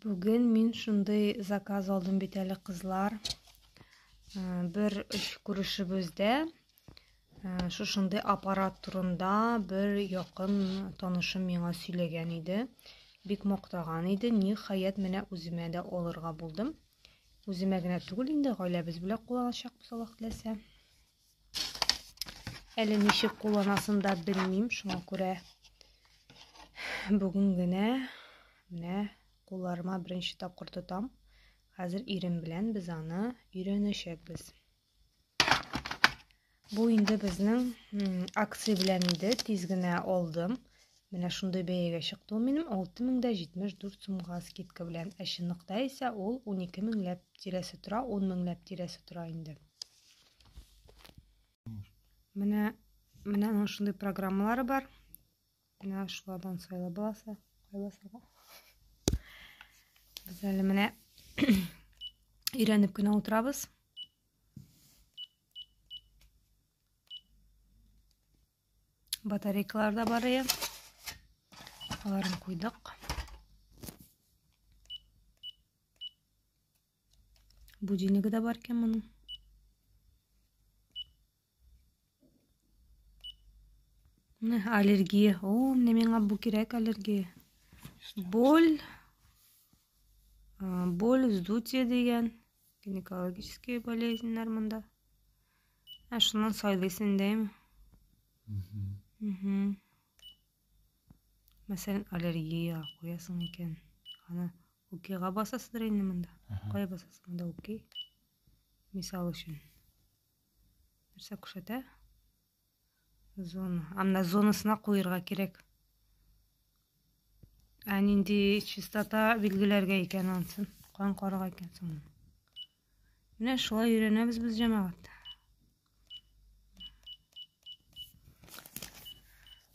Бүген мин шундый заказ алдым бит әле, кызлар. Э, бер күрешебездә э, шушындый аппарат турында бер якын танышым миңа сөйләгән иде. Бик мактаган иде. Ниһаять менә үземә дә алырга булдым. Үземә генә түгел инде, гаиләбез белән кулланачакбыз Аллаһ теләсә. Әле ничек кулланасын да белмим, шуңа күрә бүген генә менә кулларыма беренче тапкыр тотам. Хәзер ирем белән без аны өйрәнәчәкбез. Бу инде безнең акция белән иде, тиз генә алдым. Менә шундый бәягә чыкты ул минем 6074 сумга скидка белән. Ә чынлыкта исә ул 12 меңләп тирәсе тора, 10 меңләп тирәсе тора инде. Менә менә аның шундый программалары бар. Менә шулардан сайлап баласы, кайласага. Без әле менә өйрәнеп кенә утырабыз. Батарейкалар да бар ие. Аларын куйдык. Будильнигы да бар икән моның. Менә аллергия. О, менә миңа бу кирәк аллергия. Боль боль, вздутие дигән гинекологический болезньнәр монда. Ә шуннан сайлыйсың дәйме? Мәсәлән, аллергия куясың икән. Аны Укига басасыдыр инде монда. Кая басасың монда уки? Мисал өчен. Нәрсә күрсәтә? Зона. Анда зонасына куерга кирәк. Ә нинди чистота билгеләргә икән ансын? Кан карага икән соң. Менә шулай өйрәнәбез без җәмәгать.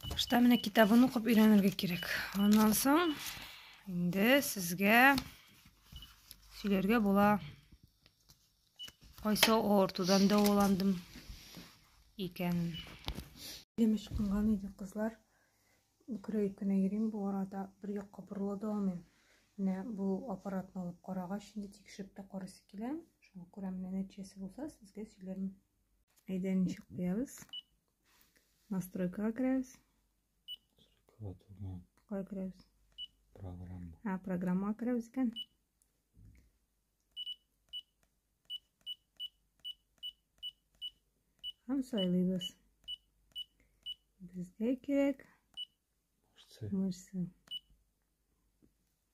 Башта менә китабын укып өйрәнергә кирәк. Аннан соң инде сезгә сөйләргә була. Кайсы авыртудан дәваландым икән. Дем ычкынган иде, кызлар. Үкерә үкенә йөрим бу арада, бер якка борыла да алмыйм. Менә бу аппаратны алып карагач, инде тикшереп тә карыйсы килә. Шуңа күрә менә нәтиҗәсе булса, сезгә сөйләрмен. Әйдә, ничек куябыз? Настройкага керәбез. Настройкага түгел. Кая керәбез? Программа. А, программага керәбез икән. Һәм сайлыйбыз. Безгә кирәк мышцы.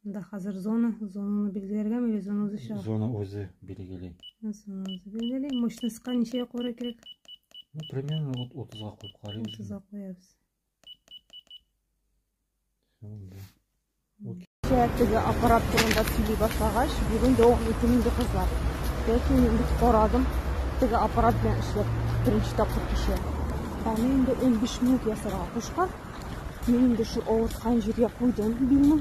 Да хәзер зона, зонаны билгеләргә миле, зона үзе чыга. Зона үзе билгели. Зона үзе билгели. Мышныска ничә якура кирәк? Ну, примерно вот 30-га куеп карыйбыз. 30-га куябыз. Теге аппарат турында сөйли башлагач, бүген дәвам итим инде кызлар. Ләкин инде карадым, теге аппарат белән эшләп беренче тапкыр кеше. Аны инде 15 минут ясарга кушкан. Мин инде шул авырткан җиргә куйдым билне.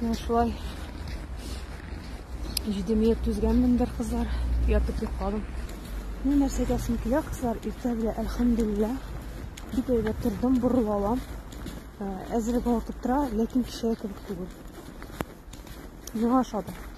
Менә шулай җидемия түзгәнмен бер кызлар, ятып йокладым. Менә нәрсә әйтәсем килә, кызлар, иртә белә, әлхәмдулилла, бик әйбәт тордым, борылып алам. Әзрәк вакыт тора, ләкин кичәгә кебек түгел. Миңа ошады.